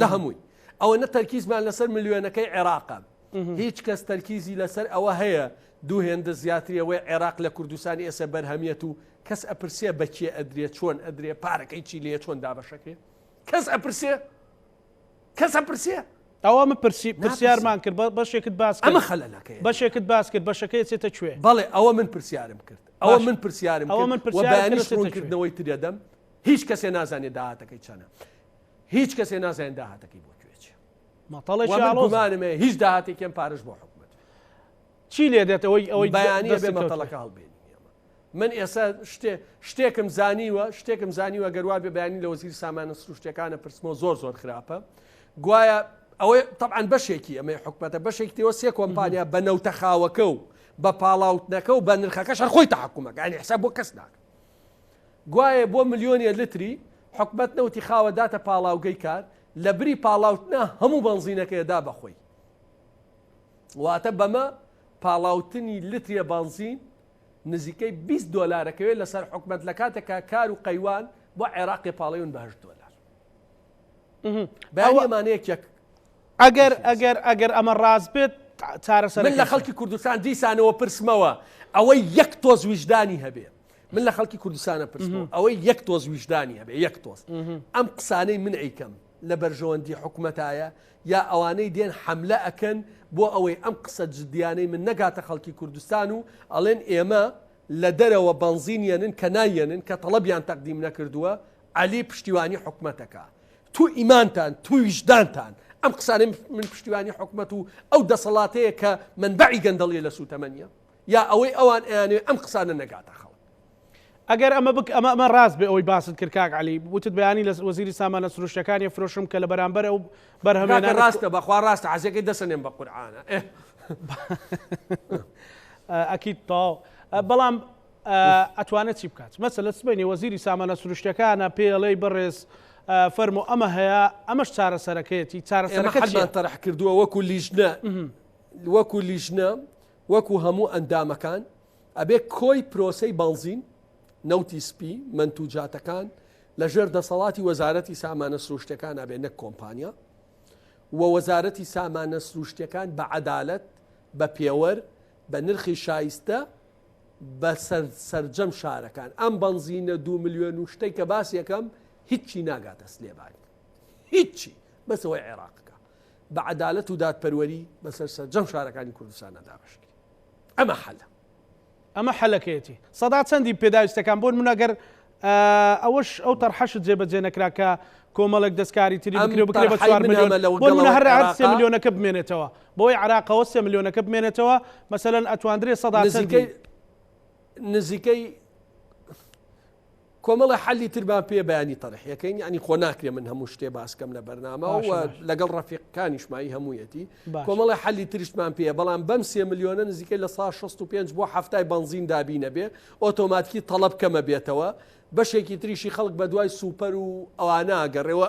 لە هەمووی ئەوە نە تەرکیزمان لەسەر ملیۆنەکەی عێراقە هیچ کەس تەرکیزی لەسەر ئەوە هەیە دوو هێندە زیاتریەوەی عێراق لە کوردستانی ئێسە بەرهەمیەت و کەس ئەپرسێ بەکیێ ئەدرێت چۆن ئەدرێ پارەکەی چی لێ چۆن دابەشەکرێ کەس ئەپرسێ کەس ئەپرسێ ئەوە من پرسی پرسیارمان کرد بەشێکت باس ئەمە خەلەکە بەشێکت باس کرد بەشەکەی چێتە کوێ بەڵێ ئەوە من پرسیارم کرد ئەوە من پرسیارم ئەوە من پرسیارکردنەوەی ترێدەم هیچ کەسێ نازانێت داهاتەکەی چەنە هیچ کەسێ نازانێت داهاتەکەی بۆ کوێ چیە مەتەڵێکی وە من ئاڵۆزە گومانم هەیە هیچ داهاتێکی ئەم پارەش بۆ حکومەت چی لێ دێت ئەوەی ئەوەی بەیانی دەستی بێ کەوتووە. مەتەڵەکە هەڵبێنی ئێمە من ئێستا شتێ شتێکم زانیوە شتێکم زانیوە گەر وا بێ بەیانی لە وەزیری سامانە سروشتیەکانە پرسمەوە زۆر زۆر خراپە گوایە ئەوەی تەبعەن بەشێکی ئەمەی حکومەتە بەشێکی تێوە سێ کۆمپانیا بە نەوتە خاوەکە و بە پاڵاوتنەکە و بە نرخەکەش هەر خۆی تەحکومەکە یانی حساب بۆ کەس ناکە گوایە بۆ ملیۆنێ لتری حکومەت نەوتی خاوە داتە پاڵاوگەی کار لە بری پاڵاوتنا هەموو بەنزینەکەی ئەدا بە خۆی واتە بەمە پاڵاوتنی لترێ بەنزین نزیکەی 20 دۆلارەکەوێت لەسەر حکومەت لە کاتێکا کار و قەیوان بۆ عێراقی پاڵیون بەهشت دۆلار بەمانەیەکێک ئەگەر ئەگەر ئەگەر ئەمە ڕاست بێت چارەسەر لە خەڵکی کوردستان دیسانەوە پرسمەوە ئەوەی یەک تۆز ویژدانی هەبێت من لە خەڵکی کوردستانە پرسم ئەوەی یەک تۆز ویژدانی هەبێ یەک تۆز ئەم قسانەی من ئەیکەم لە بەرژەوەندی حکوومەتایە یا ئەوانەی دێن حملە ئەکەن بۆ ئەوەی ئەم قسە جدیانەی من نەگاتە خەڵکی کوردستان و ئەڵێن ئێمە لە دەرەوە بەنزینیەنن کە نایەنن کە تەڵەبیان تەقدیم نەکردووە علی پشتیوانی حکوومەتەکە تو ئیمانتان تویشدانتان ئەم قسانە من پشتیوانی حکوومەت و ئەو دەسەڵاتەیە کە من بەعی گەندەڵیە لە سووتەمەنیە یا ئەوەی ئەوان ئەیانەوێت ئەم قسانە نەگاتە خەڵک. ئەگەر ئەمە بک ئەمە ئەمە راست بێ ئەوەی باست کرد کاک عەلی وتت بەیانی لە وەزیری سامانە سروشتیەکانی ئەفرۆشم کە لە بەرامبەر ئەو بەرهەمە کاکە راستە بەخوا راستە عەزێکەی دەسەنێم بە قورعانە ئەکید تاو بەڵام ئەتوانێت چی بکات مەسە لە سبینی وەزیری سامانە سروشتەکانە پێڵەی بەڕێز فەرمو ئەمە هەیە ئەمەش چارەسەرەکەیەتی چارەسەرەکە تەرح کردووە وەکو لیژنە وەکو لیژنە وەکو هەموو ئەندامەکان، ئەبێ کۆی پرۆسەی بەنزین، نەوتی سپی، مەنتوجاتەکان لە ژێر دەسەڵاتی وەزارەتی سامانە سروشتیەکان ئەبێ نەک کۆمپانیا و وەزارەتی سامانە سروشتیەکان بە عەدالەت، بە پێوەر، بە نرخی شایستە بە سەر سەرجەم شارەکان. ئەم بەنزینە دوو ملیۆن و شتەی کە باسی ئەکەم هیچی ناگاتە سلێبانی. هیچی. بەس ئەوەی عێراق کا. بە عەدالەت و دادپەروەری بەسەر سەرجەم شارەکانی کوردستانە دابەشکرێت ئەمە حەلە ئەمە حەلەکەیەتی سەدا چەندی پێداویستەکان بۆن من ئەگەر ئەوەش ئەو تەرحەشت جێبەجێ نەکرا کە کۆمەڵێک دەستکاری تری بکرێ بکرێ بە چوار ملیۆن بۆن من هەر هەر سێ ملیۆنەکە بمێنێتەوە بۆی عراقەوە سێ ملیۆنەکە بمێنێتەوە مەسەەن ئەتواندرێ سەدا چەندی نزیکەی کۆمەڵە حەلی تر با پێ بەیانی تەرح یەکەین یعنی خۆ ناکرێ من هەموو شتێ باسکەم لە بەرنامە و لەگەڵ ڕەفیقکانیشمایی هەموویەتی کۆمەڵە حەلی ترشتمان پێ بەڵام بەم سێ ملیۆنە نزیکە لە سا 65 بۆ هەفتای بەنزین دابینە بێ ئۆتۆماتکی تەڵب کەمە بێتەوە بەشێکی تریشی خەڵک بە دوای سوپەر و ئەوانە گەڕێەوە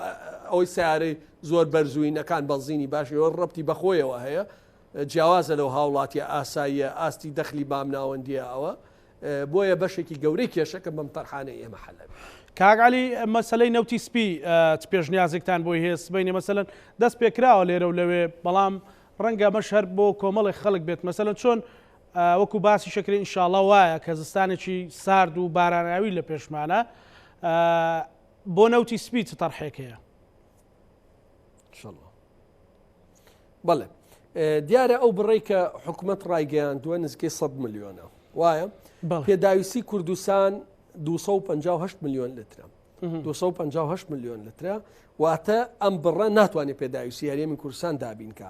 ئەوەی سیارەی زۆر بەرزوینەکان بەنزینی باشەوە ڕەتی بەخۆیەوە هەیە جیاوازە لەو هاوڵاتیە ئاساییە ئاستی دەخلی بام ناوەندیە ئەوە بۆیە بەشێکی گەورەی کێشەکە بەم تەرحانەی ئێمە حەل ئەبێ. کاک عەلی مەسەلەی نەوتی سپی چ پێشنیازێکتان بۆی هەیە سبەینێ مەسەلەن دەست پێکراوە لێرە و لەوێ بەڵام ڕەنگە ئەمەش هەر بۆ کۆمەڵێک خەڵک بێت مەسەلەن چۆن وەکو باسی شەکری ئینشاڵا وایە کە زستانێکی سارد و باراناوی لە پێشمانە بۆ نەوتی سپی چ تەرحێک هەیە بەڵێ دیارە ئەو بڕی کە حکوومەت ڕایگەیان دووە نزیکەی 100 میلیۆنە وایە پێداویستی کوردستان 258 میلیۆن لترە 258 میلیۆن لترە واتە ئەم بڕە ناتوانێت پێداویستی هەرێمی کورسان دابینکە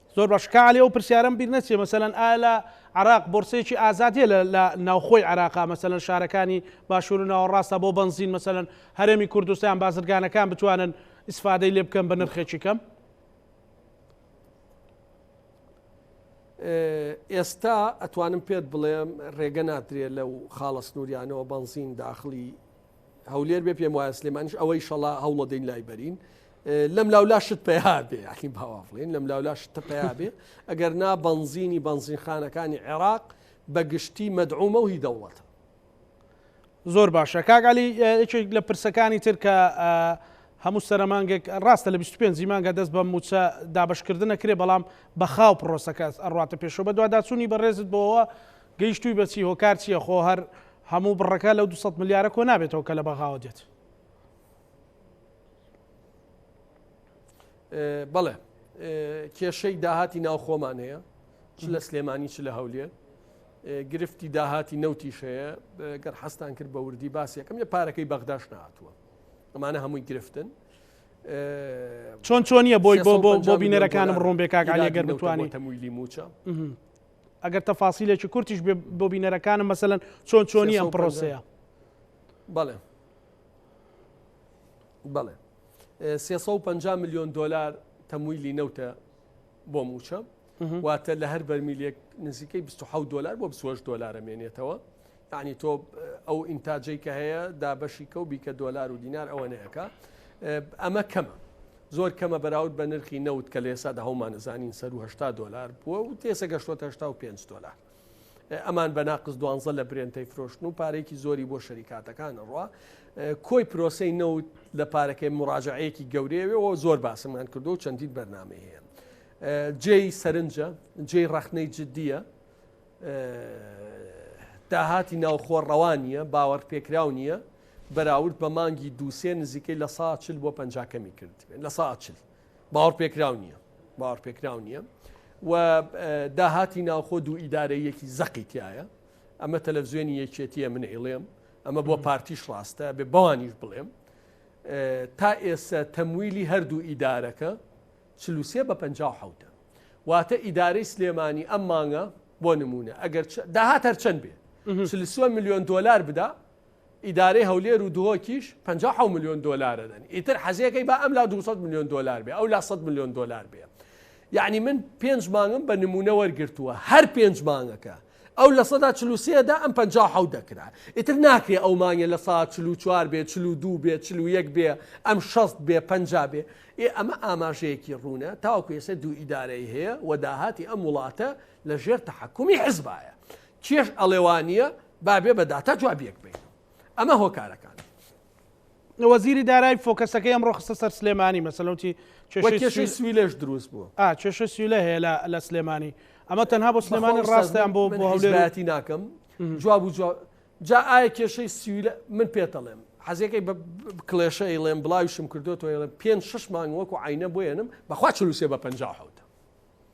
زۆر باش کاک عەلی ئەو پرسیارەم بیر نەچێ مەسەلەن ئایا لە عراق بۆرسەیەکی ئازاد هەیە لە لە ناوخۆی عراقا مەسەلەن شارەکانی باشوور و ناوەڕاستا بۆ بەنزین مەسەلەن هەرێمی کوردستان بازرگانەکان بتوانن ئیسفادەی لێ بکەن بە نرخێکی کەم ئێستا ئەتوانم پێت بڵێم ڕێگە نادرێت لەو خاڵە سنووریانەوە بەنزین داخڵی هەولێر بێ پێم وایە سلێمانیش ئەوەی شەڵا هەوڵەدەین لای بەرین لەم لاولا شت پێیابێ یاخی باوافڵین لەم لاولا شتە پێیابێ ئەگەر نا بەنزینی بەنزینخانەکانی عێراق بە گشتی مەدعومە و هی دەوڵەتە زۆر باشە کاگالی یەکێک لە پرسەکانی تر کە هەموو سەرمانگەک ڕاستە لە 25 مانگە دەست بە موچە دابشکردنە کرێ بەڵام بەخاو پرۆسەکە ئەڕاتە پێشەوە بە دوواداچوونی بەڕێزت بۆەوە گەیشتوی بە چی هۆکار چیە خۆ هەر هەموو بڕەکە لەو دو سەد ملیارە کۆ نابێتەوە کە لە بەغاوە دێت. بەڵێ کێشەی داهاتی ناوخۆمان هەیە چ لە سلێمانی چ لە هەولێر گرفتی داهاتی نەوتیش هەیە گەر حەستان کرد بە وردی باسیەکەم لە پارەکەی بەغداش نهاتووە ئەمانە هەمووی گرفتن چۆن چۆنیە بۆی بۆ بۆ بۆ بینەرەکانم ڕوون بێکاک علیگەر بتوانانی تەمویلی موچە ئەگەر تەفاسیلێکی کورتیش بێ بۆ بینەرەکانم مەسەن چۆن چۆنی ئەم پرۆسەیە بەڵێ بەڵێ 350 میلیۆن دلار تەمویلی نەوتە بۆ موچە واتە لە هەر بەرمیلێک نزیکەی 26 دلار بۆ 26 دلارە مێنێتەوە یەعنی تۆ ئەو ئینتاجەی کە هەیە دابەشی کەو بیکە دۆلار و دینار ئەوەنەیەکە ئەمە کەمە زۆر کەمە بەراود بە نرخی نەوت کە لێسا دە هەومانەزانین سەر و هشتا دۆلار بووە و تێسە گەشتۆتە هشتا و پێنج دۆلار ئەمان بە ناقز دوانزە لە برێنتەی فرۆشتن و پارێکی زۆری بۆ شەریکاتەکان ڕوا کۆی پرۆسی نەوت لە پارەکەی مراجعەیەکی گەورەیەوە زۆر باسمان کردو و چەندین بەرنمەی هەیە جێی سەرنجە جێی ڕخنەی جددیە داهاتی ناوخۆ ڕەوا نییە، باوەڕپێکراو نییە، بەراورد بە مانگی دوو سێ نزیکەی لە سەا چل بۆ پەنجا کەمی کردبێت لە سەا چل باوەڕپێکراو نییە باوەڕپێکراو نییە و داهاتی ناوخۆ دوو ئیدارەیەکی زەقی تایە ئەمە تەلەڤزیۆنی یەکێتیە من ئیڵێم ئەمە بۆ پارتیش ڕاستە بێ بەوانیش بڵێم تا ئێستا تەمویلی هەردوو ئیدارەکە چل و سێ بە پەنجا و حەوت ە. واتە ئیدارەی سلێمانی ئەم مانگە بۆ نموونە ئەگەر داهات هەرچەند بێ چل و سێ ملیۆن دۆلار بدا، ئیدارەی هەولێر و دهۆکیش پەنجا و حەوت ملیۆن دۆلار ئەدەن. ئیتر حەزێکەی با ئەم لا دوو سەد ملیۆن دۆلار بێ، ئەو لا سەد ملیۆن دۆلار بێ. یەعنی من پێنج مانگم بە نموونە وەرگرتووە، هەر پێنج مانگەکە ئەو لە سەدا چل و سێ دا ئەم پەنجا و حەوت دەکرا ئیتر ناکرێ ئەو مانگێ لە سەدا چل و چوار بێ چل و دوو بێ چل و یەک بێ ئەم شەست بێ پەنجا بێ ئێ ئەمە ئاماژەیەکی ڕوونە تاوەکو ئێسە دوو ئیدارەی هەیە و داهاتی ئەم وڵاتە لە ژێر تەحەکومی حزبایە کێش ئەڵێ وانیە با بێ بە داتا جوابیەک بەین ئەمە هۆکارەکان. وەزیری دارای فۆکەسەکەی ئەمڕۆ خستە سەر سلێمانی مەسەلە وتی وە کێشەی کێشەی سوی- سوی لەش دروست بووە ئا کێشەی سویلە هەیە لە- لە سلێمانی ئەمە تەنها بۆ سلێمانی بەخوا ئوستاز ڕاستیان من- بۆ من بۆ هەولێر و- حیزبایەتی ناکەم جواب و جواب جا ئایا کێشەی سویلە من پێتەڵێم حەزەکەی بە بە کڵێشە ئەیڵێم بڵاویشم کردۆتەوە ئەڵێم پێنج شەش مانگ وەکو عینە بۆیەنم بەخوا چل و سێ بە پەنجا و حەوتە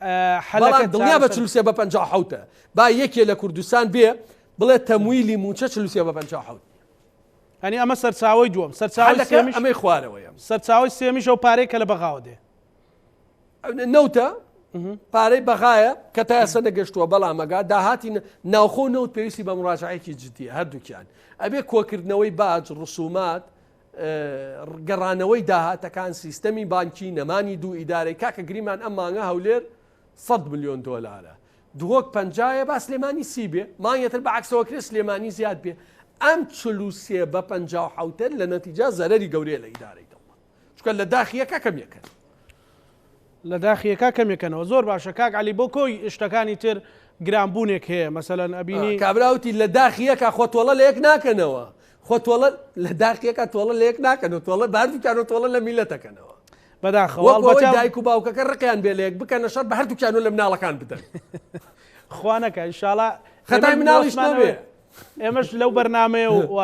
بەڵام دڵنیا بە چل و سێ بە پەنجا و حەوت ە با یەکێ لە کوردستان بێ بڵێ تەمویلی موچە چل و سێ بە پەنجا و حەوت نیە ئەنی ئەمە سەرچاوی دووەم سەرچاوی حەلەکە سێمیش ئەمەی خوارەوەیە سەرچاوی سێمیش ئەو پارەی کە لە بەغاوە دێ نەوتە پارەی بەغایە کە تا ئێستا نەگەشتووە بەڵامەگا داهاتی نە- ناوخۆ و نەوت پێویستی بە مڕاجعەیەکی جددیە هەردووکیان ئەبێ کۆکردنەوەی باج ڕسومات گەڕانەوەی داهاتەکان، سیستەمی بانکی، نەمانی دوو ئیدارەی، کاکە گریمان ئەم مانگە هەولێر سەد ملیۆن دۆلارە دهۆک پەنجا یە با سلێمانی سی بێ مانگێ تر بە عەکسەوە کرێ سلێمانی زیاد بێ ئەم چل و سێ بە پەنجا و حەوتە لە نەتیجا زەرەری گەورەیە لە ئیدارەی دەوڵەت چونکە لە داخییەکە کەم یەکەن لە داخیە کا کەمێ کەنەوە. زۆر باشە کاک علی بۆ کۆی شتەکانی تر گران بونێک هەیە مەسەلەن ئەبینی. کابرا وتی لە داخی یەکا خۆ تۆڵە لە یەک ناکەنەوە خۆ تۆڵە لە داخی یەکا تۆڵە لە یەک ناکەنەوە تۆڵە بە هەردوکیانەوە تۆڵە لە میلەت ئەکەنەوە بەداخەوە وەک ئەوەی دایک و باوکەکە ڕقیان بێ لە یەک بکەنە شەر بە هەردوکیانەوە لە مناڵەکان بدەن خوا نەکا ئینشاڵا خەتای مناڵیش نەبێ ئێمەش لەو بەرنامەیە و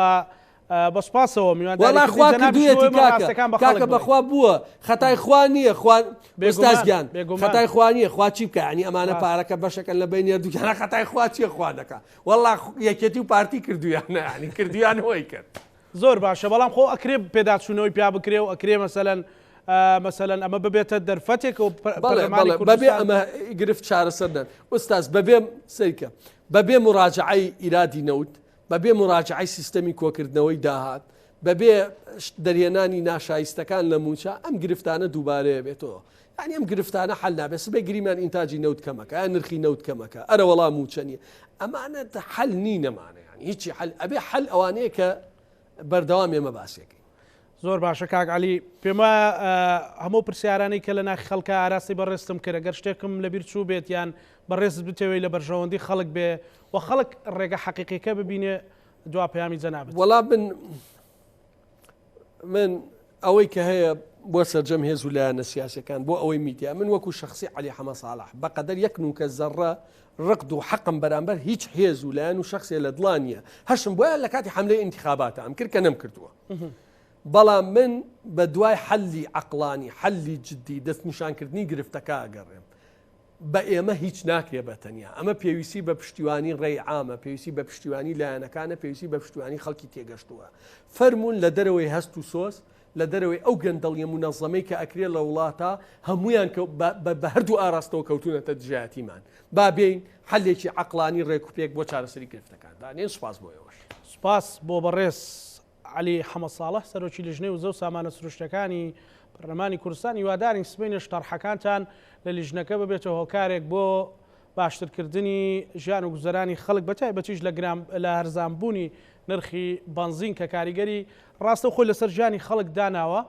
وەڵا خوا کردویەتی کاکە کاکە بەخوا بووە خەتای خوا نیە خوا ئوستاز گیان خەتای خوا نیە خوا چی بکا یانی ئەمانە پارەکە بەشەکەن لە بەی نێردوو کەنە خەتای خوا چیە خوا دەکا وەڵا یەکێتی و پارتی کردویانە یانی کردویان هۆی کرد. زۆر باشە بەڵام خۆ ئەکرێ پێداچوونەوەی پیا بکرێ و ئەکرێ مەسەلەن مەسەلەن ئەمە ببێتە دەرفەتێک و بەڵێ بەڵێ بەبێ ئەمە گرفت چارەسەر نەن ئوستاز بەبێ سەیکە بەبێ مراجعەی ئیرادی نەوت بەبێ موراجەعەی سیستەمی کۆکردنەوەی داهات، بەبێ دەرهێنانی ناشایستەکان لە مووچە، ئەم گرفتانە دووبارەێ بێتەوە. یانی ئەم گرفتانە حەل نابێت. سبەی گریمان ئینتاجی نەوت کەمەکە، ئایا نرخی نەوت کەمەکە، ئەرەوەڵا مووچە نییە. ئەمانە حەل نین ئەمانە یانی هیچی حەل، ئەبێ حەل ئەوانەیە کە بەردەوام ئێمە باسیەکەین. زۆر باشە کاک عەلی. پێم وایە هەموو پرسیارانەی کە لە ناخی خەڵکە ئاراستەی بەڕێزتم کرد، گەر شتێکم لەبیر چوو بێت یان بەڕێزت بتەوێت لە بەرژەوەندی خەڵک بێ و خەڵک ڕێگە حەقیقیەکە ببینێ دوا پەیامی جەنابت. وەڵا من من ئەوەی کە هەیە بۆ سەرجەم هێز و لایەنە سیاسەکان بۆ ئەوەی میدیا من وەکو شخصی علی حەمە ساڵح بەقەدەر یەک نوکە زەڕە ڕقد و حەقم بەرامبەر هیچ هێز و لایەن و شخصێ لە دڵانیە هەشم بۆیان لە کاتی حملەی انتخاباتە ئەم کرد کە نەم کردووە بەڵام من بە دوای حەلی عەقڵانی، حەلی جدی، دەستنیشانکردنی گرفتەکە ئەگەڕێم. بە ئێمە هیچ ناکرێ بە تەنیا. ئەمە پێویستی بە پشتیوانی ڕێی عامە، پێویستی بە پشتیوانی لایەنەکانە، پێویستی بە پشتیوانی خەڵکی تێگەشتووە. فەرموون لە دەرەوەی هەست و سۆز، لە دەرەوەی ئەو گەندەڵییە مونەزەمەی کە ئەکرێ لە وڵاتە، هەموویان بە هەردوو ئاراستەوە کەوتوونەتە دژایەتیمان. با بێین حەلێکی عەقڵانی ڕێک و پێک بۆ چارەسەری گرفتەکان دانێن، سوپاس بۆ ئێوەش. سوپاس بۆ بەڕێز عەلی حەمە ساڵح، سەرۆکی لیژنەی وزە و سامانە سروشتیەکانی پەرلەمانی کوردستان، هیوادارین سبەینێش تەڕحەکانتان لە لیژنەکە ببێتە هۆکارێک بۆ باشترکردنی ژیان و گوزەرانی خەڵک بە تایبەتیش لە گران لە هەرزان بوونی نرخی بەنزین کە کاریگەری ڕاستەوخۆی لەسەر ژیانی خەڵک داناوە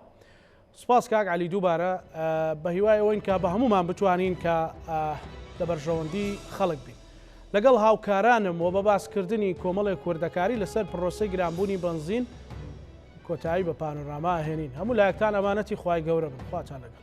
سپاس کاک عەلی دووبارە بەهیوای ئەوەین کە بە هەموومان بتوانین کە لە بەرژەوەندی خەڵک بین لەگەڵ هاوکارانم و بە باسکردنی کۆمەڵێک وردەکاری لەسەر پرۆسەی گرانبوونی بەنزین کۆتایی بە پانۆراما ئەهێنین هەموو لایەکتان ئەمانەتی خوای گەورە بن خواتان لەگەڵ